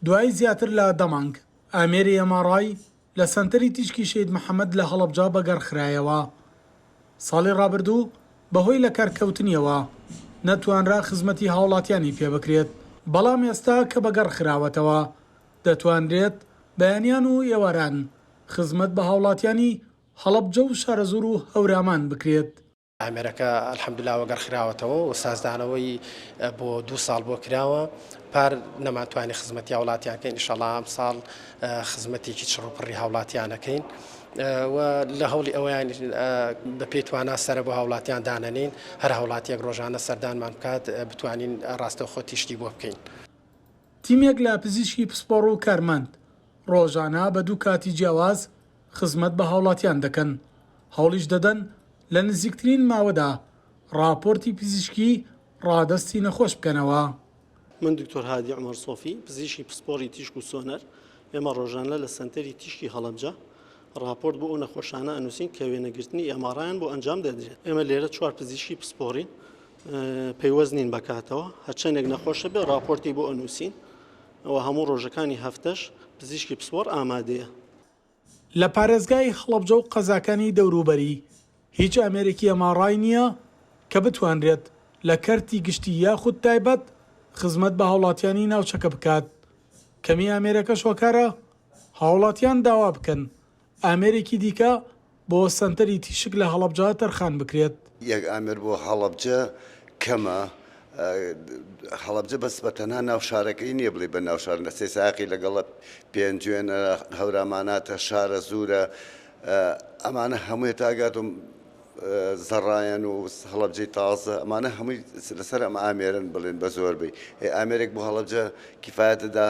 دوای زیاتر لە دە مانگ، ئامێری ئێم ئاڕ ئای لە سەنتەری تیشکی شەهید محەمەد لە هەڵەبجە بەگەڕخرایەوە. ساڵی ڕابردوو بەهۆی لەکارکەوتنیەوە نەتوانرا خزمەتی هاوڵاتیانی پێ بکرێت، بەڵام ئێستا کە بەگەڕخراوەتەوە دەتوانرێت بەیانیان و ئێواران خزمەت بە هاوڵاتیانی هەڵەبجە و شارەزوور و هەورامان بکرێت. ئامێرەکە الحمدللە وەگەڕ خراوەتەوە و سازدانەوەی بۆ دوو ساڵ بۆ کراوە پار نەمانتوانی خزمەتی هاوڵاتیانکەین ئیشەڵا ئەم ساڵ خزمەتێکی چڕوپڕی هاوڵاتیانەکەین. و لە هەوڵی ئەویان بە پێتواننا سرە بۆ هاوڵاتیان دانەنین هەر هاوڵاتیەک ڕۆژانە سەردانمان بکات بتوانین ڕاستەوخۆ تیشتی بۆ بکەین. تیمێک لە پزیشکی پسپۆڕ و کارمەند ڕۆژانە بە دوو کاتی جیاواز خزمەت بە هاوڵاتیان دەکەن، هەوڵیش دەدەن لە نزیکترین ماوەدا ڕاپۆرتی پزیشکی ڕادەستی نەخۆش بکەنەوە. من دکتۆر هادی عومەر سۆفی، پزیشکی پسپۆڕی تیشک و سۆنەر، ئێمە ڕۆژانە لە سەنتەری تیشکی هەڵەبجە ڕاپۆرت بۆ ئەو نەخۆشانە ئەنووسین کە وێنەگرتنی ئێماڕایان بۆ ئەنجام دەدرێت. ئێمە لێرە چوار پزیشکی پسپۆڕین پەیوەست نین بە کاتەوە، هەرچەندێک نەخۆش هەبێت ڕاپۆرتی بۆ ئەنووسین و هەموو ڕۆژەکانی هەفتەش پزیشکی پسپۆڕ ئامادەیە. لە پارێزگای هەڵەبجە و قەزاکانی دەوروبەری، هیچ ئامێرێکی ئەماڕای نییە کە بتوانرێت لە کەرتی گشتی یاخود تایبەت خزمەت بە هاوڵاتیانی ناوچەکە بکات، کەمی ئامێرەکەش هۆکارە هاوڵاتیان داوا بکەن ئامێرێکی دیکە بۆ سەنتەری تیشک لە هەڵەبجە تەرخان بکرێت. یەک ئامێر بۆ هەڵەبجە کەمە. هەڵەبجە بەس بە تەنها ناو شارەکەی نییە بڵێی بە ناو شار نەچێ سایەقی لەگەڵە پێنجوێنە، هەوراماناتە، شارەزوورە ئەمانە هەمووی تا گاتم زەڕایەن و هەڵەبجەی تازە ئەمانە هەمووی لەسەر ئەم ئامێرن بڵێن بە زۆربەی ئامێرێک بۆ هەڵەبجە کیفاەتدا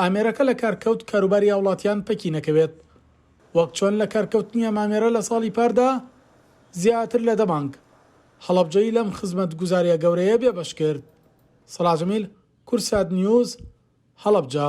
ئامێرەکە لە کار کەوت کاروباری هاوڵاتیان پەکی نەکەوێت وەک چۆن لە کار کەوتنی ئەم ئامێرە لە ساڵی پاردا زیاتر لە دە بانک هەڵەبجەی لەم خزمەت گوزاریە گەورەیە بێ بەش کرد سەڵاح جەمیل کورسات نیوز هەڵەبجە.